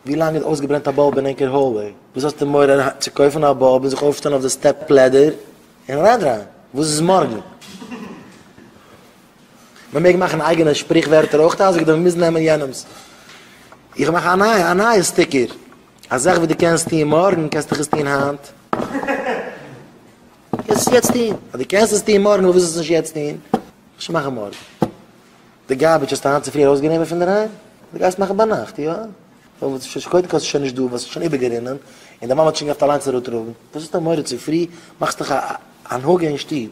ווי לאנג איז אויסגעברענט א באלב אין ענקער האלוועי? וואס האסטו מורא צו קויפן א באלב און זיך אויפשטעלן אויף די סטעפ לעדער און אריינדרייען? וואס איז מארגן? מען מעג מאכן אייגענע שפריך ווערטער אויך אזוי ווי דער מען מוז נעמען יענעמס. איך מאך א נייע א נייע סטיקער. א זאך וואס דו קענסט טון מארגן קענסט דאך עס טון היינט. קענסט עס יעצט טון. אז דו קענסט עס טון מארגן פארוואס זאלסטו עס נישט יעצט טון? איך וועל שוין מאכן מארגן. די גארביטש האסטו היינט צופרי ארויסגענומען פון דערהיים? די גייסט מאכן ביינאכט, יא? ווייל ש ש קודם כל ס'שוין נישט דא ווייל ס'שוין איבערגערינען און די מאמע האט שוין געהאפט אליינס אראפטראגן, וואס האסטו מורא צופרי? מאכסט דאך א הנהגה אין שטוב.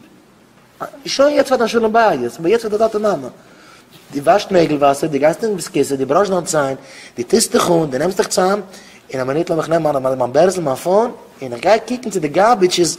שוין יעצט פאר דיין שלום בית, אבער יעצט פאר די טאטע מאמע. דו וואשט נעגל וואסער, דו גייסט אין ביסקיסע, דו בראשט דיין ציין, דו טוסט דיך אן, דו נעמסט דיך צאם, און א מינוט לאמיך נעמען מיין בערזל מיין פאון, און איך גיי קוקן צו די גארביטש איז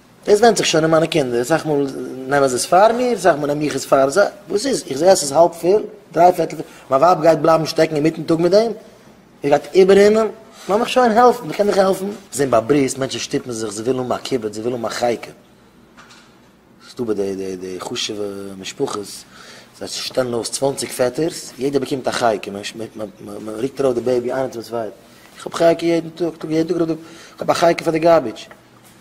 דאס ווענדט זיך שוין אין מיינע קינדער, אסאך מאל נעמען זיי עס פאר מיר, אסאך מאל נעם איך עס פאר זיי, וואס איז? איך זעה אז ס'איז האלב פיל, דריי פערטל פיל, מיין ווייב גייט בלייבן שטעקן אינמיטן טאג מיט דעם? איר גייט איבעררינען? לאז מיך שוין העלפן, ווער קען מיך העלפן? זען ביי ברית, מענטשן שטופן זיך, זיי ווילן האבן א כיבוד, זיי ווילן האבן א חייקה. ס'איז דא ביי די די חשוב'ע משפחות, זיי שטעלן אויס צוואנציג פעטערס, יעדער באקומט א חייקה, מ'רוקט ארויף די בעיבי איינער צום צווייטן, איך האב חייקה יעדן טאג, איך האב א חייקה פאר די גארביטש.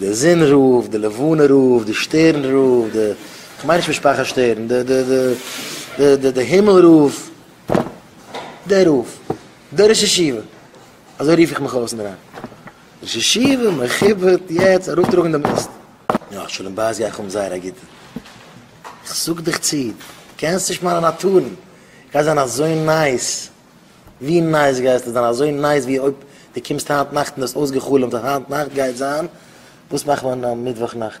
די זון רופט, די לבנה רופט, די שטערן רופט, די, כ'מיין נישט משפחת שטערן, די, די, די, די, די הימל רופט, דער רופט, דער ראש ישיבה, אזוי רוף איך מיך אויס אינדערהיים, ראש ישיבה מכובד יעצט אראפטראגן דעם מיסט. יא, שלום בית גיי איך האבן זייער א גוטן. איך זאג דיך צו, דו קענסט נישט מיינע נאטורן, איך גיי זיין אזוי נייס. ווי נייס גייסטו זיין? אזוי נייס ווי אויב דו קומסט היינט נאכט און דו האסט אויסגע'חלומ'ט אז היינט נאכט גייט זיין, וואס מאכט מען מיטוואך נאכט?